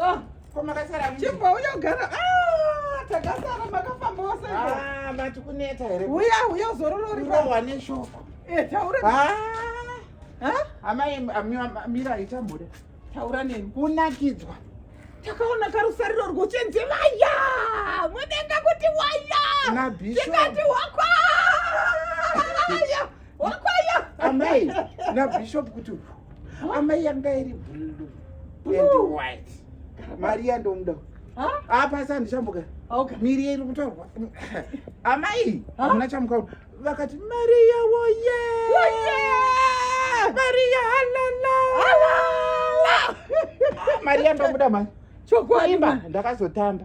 Oh, komakasara mimi. Chimbo uyo gara. Ah, takasara makafamba wose. Ah, mati kuneta here. Uya uya zororori. Uya wane shoko. Eh, taura. Ah. Ha? Amai amira ita mure. Taura neni. Kunakidzwa. Takaona karusariro rwochenzi vaya. Mudenga kuti waya. Tikati wakwa. wakwaya amai nabishop kuti amai yanga iri blue and white mari yandomuda apasi andichambuka miri iri kutorwa amai amuna chamukaona vakati mariya woye mariya halala mariya ndomuda mari chokuimba ndakazotamba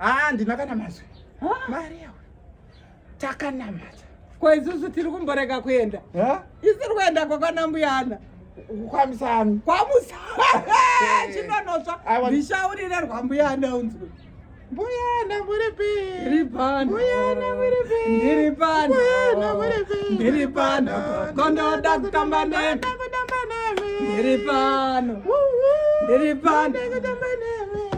ah ndina kana mazwi mari yawe takanamata ko isusu tiri kumborega kuenda isiri kuenda kwakana mbuyana kwamusami kwamusami chinonotsva ndishaurire rwambuyana unzwe Buyana muripi. Ndiripana. Buyana muripi. Ndiripana. Buyana muripi. Ndiripana. Kondo da kutamba nene. ndiri pano ndiri pano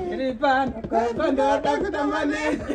ndiri pano kamba ndoda kutamba nemi